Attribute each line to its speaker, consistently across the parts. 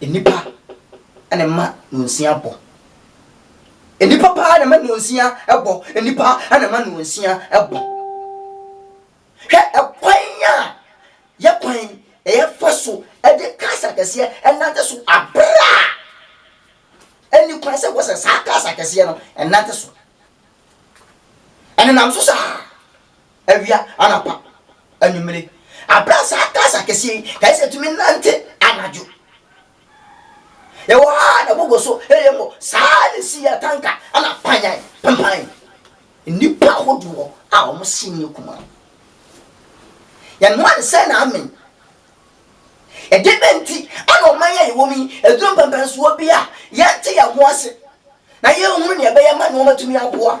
Speaker 1: Nnipa na ɛma nnwansia bɔ. Nnipa paa na ɛma nnwansia bɔ. Nnipa na ɛma nnwansia bɔ. Hwɛ ɛkwan a yɛ kwan ɛyɛ fa so ɛde cars akɛseɛ ɛnante so abere a ɛni kwan sɛ wɔsɛ saa cars akɛseɛ no ɛnante so. Ɛnenam so saa. awia, anɔpa, anwummere, bere a saa taas akɛseɛ yi kae sɛ ɛtumi nante anadwo. Yɛwɔ ha a na ɛgogo so reyɛ mmɔ. Saa na ɛsi yɛ tanka na panyan pampan nnipa ahodoɔ a wɔn se nyɛ kumaa. Yɛnoa nsɛ na amen. Ɛdeɛ bɛn nti na ɔman yi a yɛwɔ mu yi aduru mpɛmpɛnsoɔ bi a yɛnte yɛn ho ase na yɛnhunu nea ɛbɛyɛ ma nneɛma atumi aboa?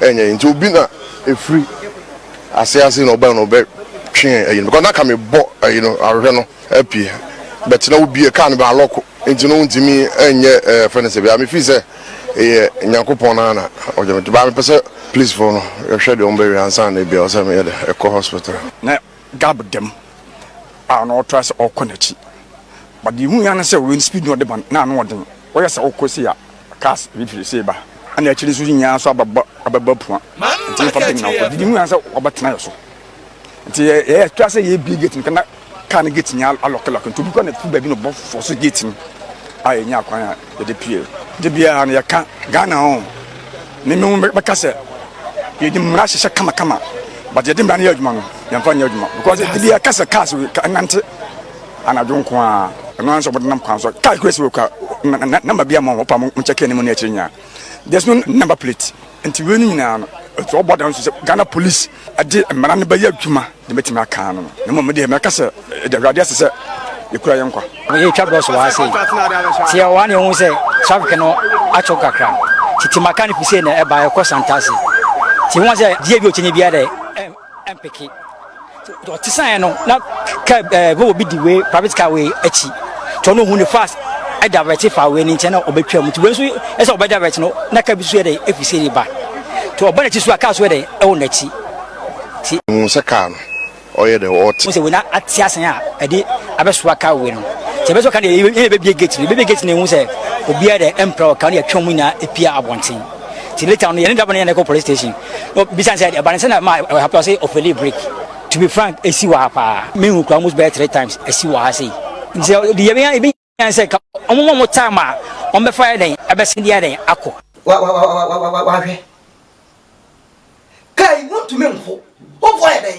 Speaker 2: Ɛnyɛ nti obi na ɛfiri aseɛ aseɛ na ɔbɛn no ɔbɛ twe ayi no because na ka me bɔ ayi no ahwehwɛ no apie but na obie kaa no bɛ alɔko nti no ntumi ɛnyɛ ɛɛ fɛ no sɛ bia me fii sɛ ɛyɛ nyankopɔn na na ɔgye me baa me pɛ sɛ please fo no ɛhwɛ deɛ ɔmbɛ wia nsa na ebia ɔsɛ me yɛ dɛ ɛkɔ hospital. Na gab
Speaker 3: dɛm a na ɔtra sɛ ɔkɔ n'akyi but deɛ hu ya no sɛ ɔwɛn speed na ɔde ba no na ano ɔden ɔyɛ sɛ ɔkɔ si a. Cars bi firi sei ba, ɛna akyiri nso nyinaa nso abɛbɔ abɛbɔ apua. Nti nfa bi nyina hɔ. Didi mu sɛ wɔbɛtena yɛ so. Nti yɛ yɛ atwa sɛ yɛbie gate no kana kaa no gate nyinaa alɔkelɔke. Nti obi kɔ na fi baabi na ɔbɔ fɔ so gate no a yɛnya akwan a yɛde pie. De biara no yɛka Ghana ho ne me ho bɛka sɛ yɛde mmara hyehyɛ kamakama but yɛde mmara no yɛ adwuma no yɛmfa nyɛ adwuma because de biara ka sɛ cars ɛnante Anadwo nko ara, ɛno ara nso wɔdenam kwan so. Car kura si wɔ kura na na namba bi ama wɔn paa mo nkyɛ car anim ne akyire nyinaa. There's no number plate. Nti wei no nyinaa no, ɛtu ɔbɔ dan nso sɛ Ghana police ɛde mmara no bɛyɛ adwuma de mɛtumi aka ano no. Na mmom me deɛ mɛka sɛ ɛde awurade ase sɛ yɛkura yɛn nkwa. Yɛtwa bɔs wɔ ha
Speaker 4: sei. Nti yɛwɔ ha na yɛhu sɛ traffic no atwo kakra. Nti Timaka no fi sei na ɛba ɛkɔ Santase. Nti yɛhu sɛ deɛ bi ɔkyɛnyɛ biara dɛ. Ɛmpeke. Nti ɔte saeɛ no na car ɛɛ bɛ obi di wei private car wei akyi. Nti ɔno ohun ne fast ɛdavɛte fa wei ne nkyɛn na ɔbɛtwa mu. Nti wei nso ɛsɛ ɔbɛdavɛte no na car bi nso yɛ dɛ efi sei reba. Nti ɔba n'akyi so a car nso yɛ dɛ ɛwɔ n'akyi. Nti. Ohun sɛ car no
Speaker 2: ɔyɛ dɛ ɔɔte. Ohun sɛ wei na ate asen
Speaker 4: a ɛde abɛsoa car wei no. Nti ɛbɛsoa car no yɛn na yɛbɛbie gate no. Yɛbɛbie gate no yɛhu sɛ obiara dɛ ɛmpira wɔ car no yɛtwa wɔn nyinaa apue abɔnten. ti later no yɛne driver no yɛn ɛkɔ police station no bisa sɛ ɛbane sɛ na ma ɛwɔ ha pɛ ɔsɛ ɔfɛli break to be frank ɛsi wɔ ha paa mehu kora almost bɛyɛ three times ɛsi wɔ ha sei nti sɛ yɛbɛnya yɛbɛnya sɛ ka ɔmo ma mo time a ɔmbɛfa yɛ dɛn ɛbɛsen deɛ dɛn akɔ
Speaker 1: wahwɛ kaa yi wontumi nko wofoɔ yɛ dɛn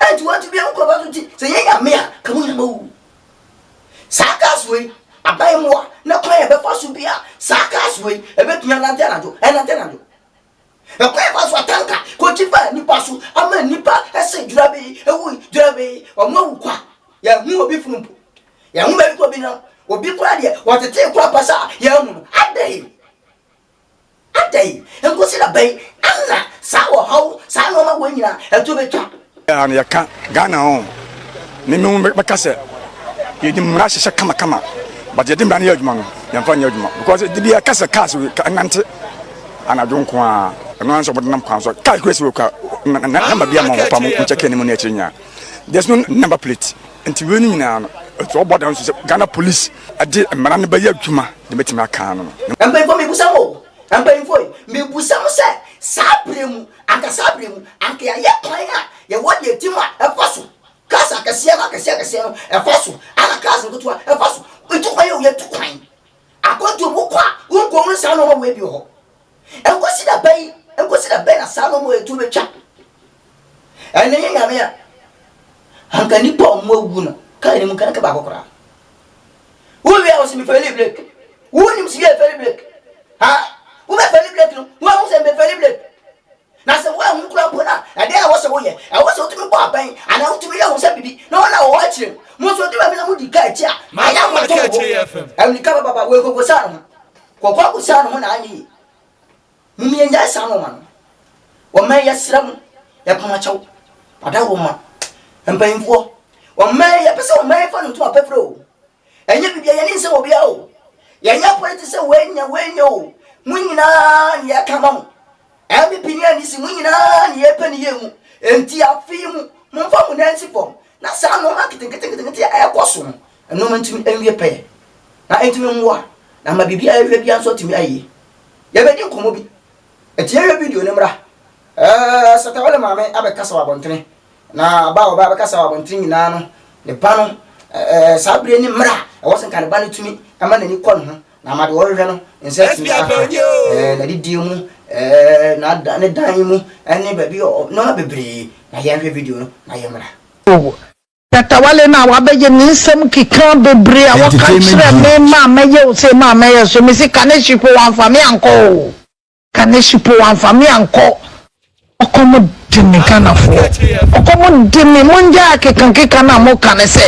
Speaker 1: Enti wɔatu bia wokɔ ba so nti sɛ yɛ nyame a ka mo nyina ma wuwu saa cars wei aban mmoa na kwan yɛ bɛfa so bia saa cars wei ɛbɛtumi anante anadwo ɛnante anadwo ɛkwan yɛ fa so atanka kɔkyi fa nipa so ama nipa ɛsɛ dwura bɛyi ɛwu dwura bɛyi wɔn awu kwa yɛ hu obi funu mpo yɛ hu bɛbi kɔ bi na obi kora deɛ wɔtetee kora pasa yɛ hu no adɛn Adɛn? Nkosi da bɛn na saa ɔhaw, saa nnoɔma wei nyinaa ɛto bɛtwa? Daa no yɛka
Speaker 3: Ghana ho ne me ho bɛka sɛ yɛde mmara hyehyɛ kamakama but yɛde mmara no yɛ adwuma no yɛmfa nyɛ adwuma because de bi ɛka sɛ cars ɛnante anadwo nko a ɛno nso wɔde nam kwan so car kura si wɔ kwa namba bi ama ho pa mo nkyɛ kɛ ne mu ne akyiri nyaa there's no number plate Nti wei no nyinaa no ɛti ɔbɔ dan nso sɛ Ghana police ɛde mmara no bɛyɛ adwuma de mɛtumi aka ano no. Mpanyinfoɔ mebusa
Speaker 1: mo o, mpanyinfoɔ yi mebusa mo sɛ saa berɛ mu anka saa berɛ mu anka yɛayɛ kwan a yɛwɔ deɛ ɛtim a ɛfa so cars akɛseɛ no akɛseɛ akɛseɛ no ɛfa so ana cars nketewa ɛfa so ɛtu kwan o yɛtu kwan akwantuo mu wokɔ a wonkɔ hunu saa nnoɔma wei bi wɔ hɔ Ɛnkɔsi da bɛn? Ɛnkɔsi da bɛn na saa nnoɔma yi to bɛtwa? Ɛnnɛ yɛ Nyame a, anka nnipa a wɔn awuwu no, kaa no mu nka nka baako koraa. Wo wie a wɔsi me fɛli brek. Wo nim si yɛ fɛli brek? Ha? Wo bɛ fɛli brek no, wo ahu sɛ me bɛ fɛli brek? Na sɛ woanhu koraa mpo no a, ɛdɛn na ɛwɔ sɛ woyɛ? Ɛwɔ sɛ wutumi bɔ abɛn anaa wutumi yɛ hu sɛ biribi na wɔn a wɔwɔ akyiri no. Mo nso odu baabi na mudi ka akyi a, ɛnyɛ a moreto mo bo. Amirika
Speaker 5: bababa wei
Speaker 1: kokosan ne ho. Kɔkɔɔ kosan ne ho na anyɛ yie. Mum yɛnnyae saa nnoɔma no. Wɔmmɛn yɛsrɛ mo, yɛpam akyɛw. Ɔda wo mma. Mpanyimfoɔ, wɔmmɛn yɛpɛ sɛ wɔmmɛn yɛfa no ntoma pɛprɛ o. Ɛnyɛ biribi a yɛn ani nsɛ wɔ biara o. Yɛnyɛ apɔliti sɛ wei nyɛ wei nyɛ o. Mo nyinaa ne yɛka ma mo. NPP ne NDC mo nyinaa ne yɛpɛ ne yie mu. Enti afe yi mu, momfa mo nan nsi fam na saa nnoɔma nketenketenkete a ɛrekɔ so no, nnoɔma ntumi nwie pɛyɛ. Na ɛntumi mmoa na ama biribi a yɛhwehwɛ biara nso atumi ayɛ yie. Yɛbɛdi nkɔmmɔ bi. Enti yɛnhwɛ video no mmra. Ɛɛ Satawa ne Maame abɛkasa wɔ abɔntene. Na ba a ɔbaa bɛkasa wɔ abɔnten nyinaa no, ne ba no, ɛɛ, saa bere ne mmerɛ a ɛwɔ sɛ nka ne ba no tumi ma n'ani kɔ ne ho na ama deɛ ɔrehwehwɛ no nsa atumi aka, ɛɛ, n'adidie mu, ɛɛ, n'ada, ne dan mu, ne baabi a ɔ, nneɛma bebree. Na yɛnhwɛ video no na yɛmmra. Oh, Tatawale
Speaker 6: na wabɛgye me nsɛm keka bebree a wɔka kyerɛɛ me, maa mɛyɛ o sei, maa mɛyɛ so, mese Kaneshifo wɔamfa me ankɔ o. Kane Shippo wamfa me ankɔ ɔkɔm de me Ghanafoɔ ɔkɔm de me mongyae akekankeka no a moka no sɛ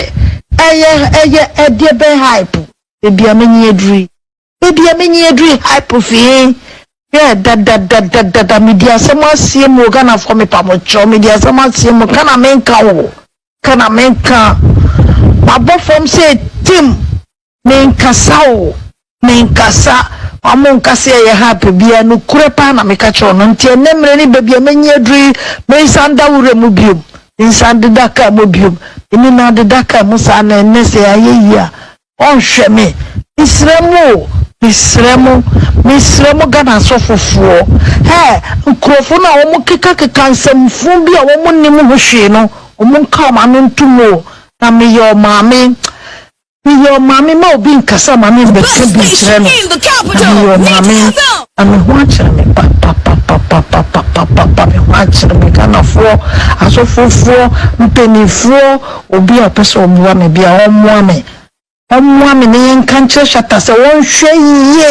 Speaker 6: ɛyɛ ɛyɛ ɛdeɛ bɛn hype baabi a menyin aduru yi baabi a menyin aduru yi hype fi he hwɛ dadadadadada medi asɛm aseɛ mu o Ghanafoɔ mepa mo kyɛw medi asɛm aseɛ mu ka na menka o ka na menka mabɔ fam sɛ tim Menkasa o, menkasa, ɔmo nka sɛ ɛyɛ ha pɛ biara, nokorɛ paa na meka kyerɛ wɔn, nti ɛnnɛ mmerɛ ne baabi a mɛnyi aduru yi, mensan da wura mu biom, mensan deda kaa mu biom, menim na deda kaa mu saa na ɛnnɛ sɛ ayɛ yie a, wɔnhwɛ me, mesrɛ mo o, mesrɛ mo, mesrɛ mo Ghana asɔfofoɔ, ɛɛ nkorɔfoɔ no a wɔn keka keka nsɛm funu bi a wɔn nnim ho hwee no, wɔn nka wɔn ano nto mu o, na meyɛ ɔmaame, Meyɛ ɔmaame ma obi nkasa ma me mbɛka bi nkyerɛ no na meyɛ ɔmaame na me ho akyere me papapapapapapa me ho akyere me Ghanafoɔ asɔfofoɔ mpaninfoɔ obi a ɔpɛ sɛ ɔboa me bia ɔmmoa me ɔmmoa me na yɛnka nkyerɛ Shatta sɛ ɔnhwɛ yie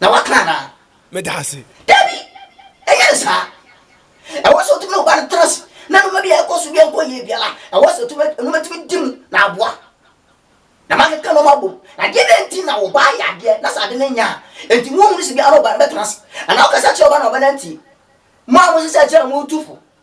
Speaker 1: na waka anaa? Meda ase.
Speaker 5: Dabi,
Speaker 1: ɛnyɛ ne saa. Ɛwɔ sɛ otumi ne wo ba no tena ase, na nneɛma bi a ɛkɔ so bi nkɔ yie biara, ɛwɔ sɛ otumi nneɛma tumi di mu na aboa. Na makeka nneɛma abom. Na deɛ na nti na wo ba ayɛ adeɛ na saa ade no nyɛ a, enti wohunu sɛ bi a na wo ba no bɛtena ase. Anaa wokasa kyerɛ wo ba na wo ba no antie. Mo a mohyɛ sɛ akyire a motu fo,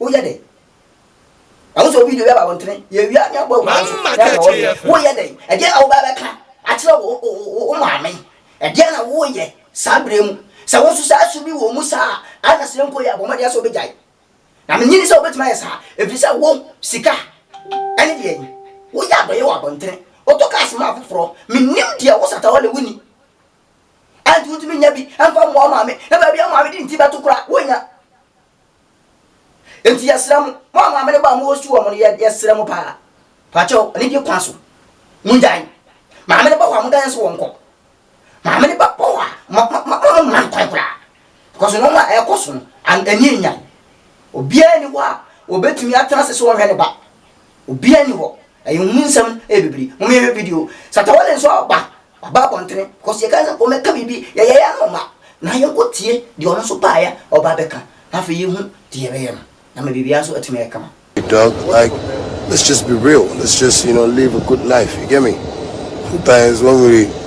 Speaker 1: Woyɛ dɛn? Na wosɛ obi de obi aba wo ntene. Yɛwia ne abɔ agu ase. Na ɛka wɔ deɛ. Woyɛ dɛn? Ɛdeɛ na wobaa bɛka akyerɛ wo wo maame. Ɛdeɛ na woyɛ saa berɛ mu. Sɛ wo nso saa su bi wɔ mu saa a, na sɛ mpo yɛ a, bɔ mmɔden sɛ wobɛgyae. Na mennye nni sɛ wobɛtumi ayɛ saa. Ɛfiri sɛ wo, sika ne deɛn? Woyɛ adɔeɛ wɔ abɔntene. Wotɔ cars ma afoforɔ. Mennim deɛ wosata wɔ na wonni. ɛnti wotumi nya bi ɛmfa mmoa wo maame na baabi a wo maame de nti bɛto koraa wonnya ɛnti yɛsrɛ mo mo a maame no ba a mowɔ su wɔ mo no yɛsrɛ mo paa pakyɛw ne deɛ kwan so mongyae maame no ba hɔ a moda yɛn so wɔ nkɔ maame no ba hɔ a ma ma ma ma ma nkwan koraa because no ma ɛkɔ so no ɛnyɛ nyan obiara ni hɔ a wɔbɛtumi atena ase so wɔhwɛ ne ba Obiara ni hɔ. Ɛyɛ nhu nsɛm ɛyɛ bibiri. Mo yɛ video. Satawale nso aba. Waba abɔntene. Kɔsi ɛka sɛ wɔn ɛka biribi. Yɛ yɛ ya no ma. Na yɛn kɔ tie deɛ ɔno nso baayɛ ɔba abɛka. Na afei yɛ hu deɛ yɛ
Speaker 2: bɛyɛ
Speaker 1: no. Na ma biribiara nso atumi ayɛ kama.
Speaker 2: Doc
Speaker 1: like let's
Speaker 2: just be real let's just you know live a good life you get me sometimes one really.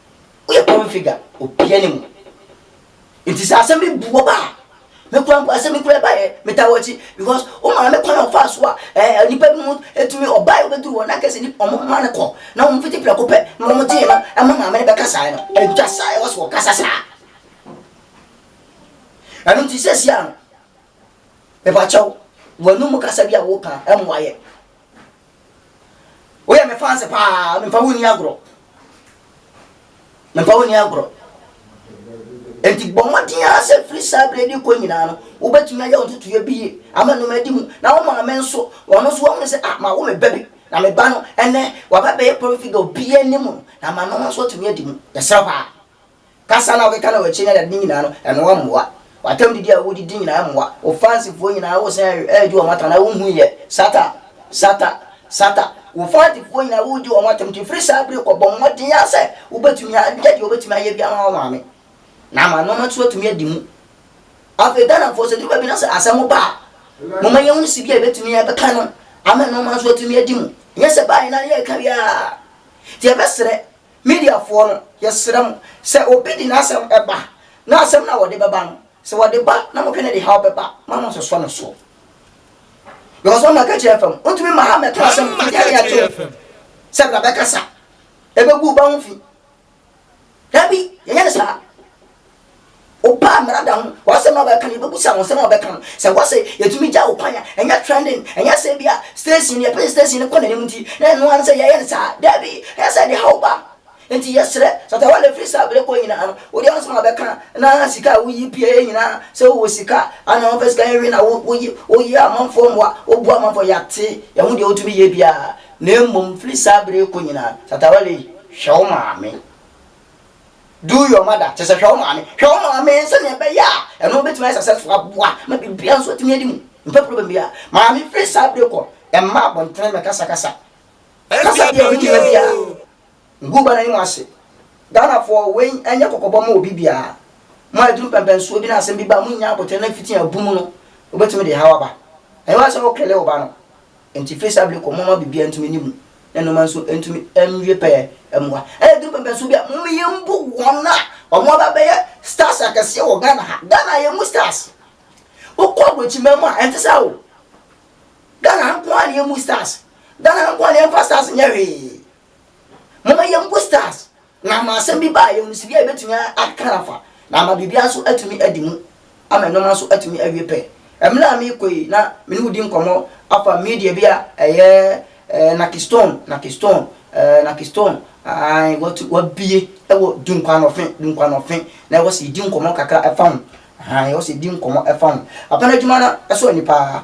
Speaker 1: Woyɛ public figure, obiara nim wo. Nti sɛ asɛm bi bu ɔba a, me kura mpo asɛm bi kura ɛba yɛ, metaa wɔakyi because wo maame kwan a ɔfaa so a ɛɛ nipa bi mu etumi ɔba a obeduru hɔ na kɛse ni ɔmo ma no kɔ na ɔmo fiti prɛko pɛ na ɔmo gye no ɛma maame no bɛka saa no ɛntwa saa ɛwɔ so ɔkasa saa ɛno nti sɛ si ano. Mepakyɛw, wɔn anum kasa bi a wɔka ɛmmoa yɛ. Woyɛ me fans paa, mempa wo nni agorɔ. Mempa wo nni agorɔ. Enti bɔ mmɔden ara sɛ firi saa berɛ de kɔ nyinaa no, wobɛtumi ayɛ wo ntotoeɛ bi yie ama no adi mu. Na wo maame nso, ɔno nso wahunu sɛ, ah, mawo me ba bi. Na me ba no, ɛnnɛ, waba abɛyɛ public figure, obiara anim no, na ama no nso atumi adi mu. Yɛsrɛ paa. Kasa no a wokeka na w'akyi ne adeade no nyinaa no, ɛno mmoa. W'atam didi a wodidi nyinaa mmoa. Wo fansifoɔ nyinaa wosan redi wɔn atɛm anaa wonhu yɛ? Satan! Satan! Satan! Wo fansifoɔ nyinaa woredi wɔn atɛm nti firi saa bere rekɔ bɔ mmɔden ara sɛ wobɛtumi ayɛ deɛ wobɛtumi ayɛ bi ama wo maame na ama nneɛma nso atumi adi mu. Afei Ghanafoɔ sɛ duru baabi na sɛ asɛm ba a, moma yɛhu si bi a ɛbɛtumi ɛbɛka no ama nneɛma nso atumi adi mu. Nyɛ sɛ baayɛ na yɛreka wie a nti yɛbɛsrɛ Mediafoɔ no, yɛsrɛ mo, sɛ obi de n'asɛm ba, na asɛm no a wɔde bɛba no, sɛ wɔde ba na modwene de haw bɛba a, mma monnsosɔ no so. Because wɔn na ka kyerɛ fam. Wontumi mma ha mmɛto asɛm Wɔn na ka biara kyerɛ to fam. sɛ bra bɛkasa, ɛbɛgu wo ba ho fi. Dabi, yɛnyɛ no saa. Wopaa mmara da ho, w'asɛm na wɔbɛka no, yɛbɛbisa wo nsɛm a wɔbɛka no. Sɛ wɔse yɛtumi gya wo kwan a, ɛnyɛ trending, ɛnyɛ sɛ ebia station no, yɛpɛ sɛ station no kɔ n'anim nti na ɛno ara ne sɛ yɛyɛ no saa. Dabi, ɛnyɛ sɛ ɛde haw ba. Enti yɛsrɛ, Shatta Wale firi saa berɛ kɔ nyinaa no, wo deɛ w'asɛm a wɔbɛka na sika a woyi pieeɛ nyinaa, sɛ wowɔ sika a, ana wɔmfa sika nwe na woyi, woyi amanfoɔ mmoa, woboa amanfoɔ, yɛate, yɛahu deɛ wotumi yɛ biara, na mmom firi saa berɛ yi kɔ nyinaa, Shatta Wale, hwɛ wo maame. Do your mother, kyerɛ sɛ hwɛ wo maame. Hwɛ wo maame sɛnea ɛbɛyɛ a ɛno bɛtumi ayɛ successful aboa ma biribiara nso atumi adi mu. Mpɛ problem biara. Maame firi saa bere kɔ, mma abɔntene mmɛkasakasa. Kasa bi a ɛho hia biara, ngu wo ba no anim ase. Ghanafoɔ, wei nyɛ kɔkɔbɔ mma obi biara. Mo a aduru mpɛmpɛnsoɔ bi na asɛm bi ba a, monnya abotire na fiti abu mu no, wobɛtumi de haw aba. Ɛnyɛ w'asɛm woklele wo ba no. Enti firi saa bere yi kɔ, momma biribiara ntumi nni mu, na nnoɔma nso ntumi nwie pɛyɛ mmoa. Ɛna ɛduru pɛmpɛnsoɔ bi a, momma yɛmbu wɔn a wɔaba abɛyɛ stars akɛseɛ wɔ Ghana ha. Ghana ha yɛmmu stars. Wokɔ aburokyiman mu a, ɛnte saa o. Ghana ha nko ara na yɛmmu stars. Ghana ha nko ara na yɛmfa stars nyɛ hwee. Momma yɛmbu stars. Na ama asɛm bi baa yɛn mu sɛ bia yɛbɛtumi aka afa, na ama biribiara nso atumi adi mu, ama nnoɔma nso atumi awie pɛ. Mmerɛ a merekɔ yi, na me ne wo di nkɔmmɔ afa media bi a ɛyɛ eh, Nakistone, Nakistone, eh, Nakistone, ae, watu, wabie ɛwɔ Dunkwanɔfe, Dunkwanɔfe, na ɛwɔ sɛ yɛdi nkɔmmɔ kakra ɛfa ho, ae, ɛwɔ sɛ yɛdi nkɔmmɔ ɛfa ho. Papa no adwuma no ɛsɔ ani paa.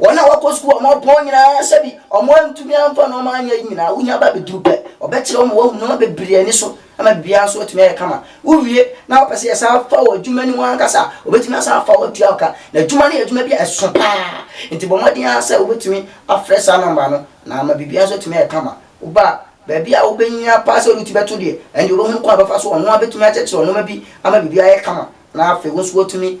Speaker 1: Wɔn a wɔkɔ sukuu a wɔpɔn nyinaa sɛbi wɔn antumi amfa nnoɔma anyɛ nyinaa wohia ba bɛduru pɛ ɔbɛkyerɛ wo ma woahu nnoɔma bebree ani so ama biribiara nso atumi ayɛ kama wowie na wopɛ sɛ yɛsan fa wo adwuma no mu ankasa a ɔbɛtumi asan afa wo atua wo ka na adwuma no yɛ adwuma bi a ɛso paa nti bɔ mmɔden ara sɛ wobɛtumi afrɛ saa nɔmba no na ama biribiara nso atumi ayɛ kama woba a baabi a wobɛnya paa sɛ wode ti bɛto deɛ ɛnde wobɛhunu kwan a bɛfa so ɔno ara bɛtumi akyɛkyerɛ nnoɔma bi ama biribiara ayɛ kama na afei wo nso woatumi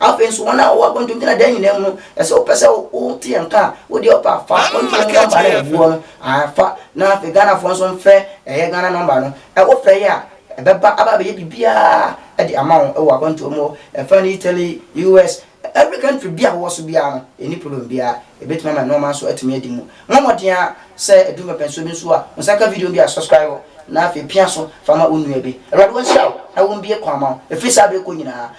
Speaker 1: Afei nso, wɔn a wɔwɔ akwantuo gyina dan nyinaa mu no, ɛsɛ wopɛ sɛ wote yɛn nka a, wo deɛ ɔpa fa akwantuo mu nɔmba no a ɛguɔ no, ae fa, na afei Ghanafoɔ nso mfrɛ ɛyɛ Ghana nɔmba no, wofrɛ yɛ a, ɛbɛba aba abɛyɛ biribiara de ama wo wɔ akwantuo mu hɔ, ɛfa no Italy, US, every country bi a wowɔ so biara no, ɛnni problem biara, ɛbɛtumi ama nnoɔma nso atumi adi mu. Mmɔ mmɔden ara sɛ ɛduru mpɛpɛnsoɔ bi nso a, wo nsa ka video bi a, subscribe hɔ, na afei pia so fa ma wo nua bi. Awurade ɔnhyira wo na ɔmbue kwan ma wo, ɛfiri saa berɛ rekɔ nyinaa,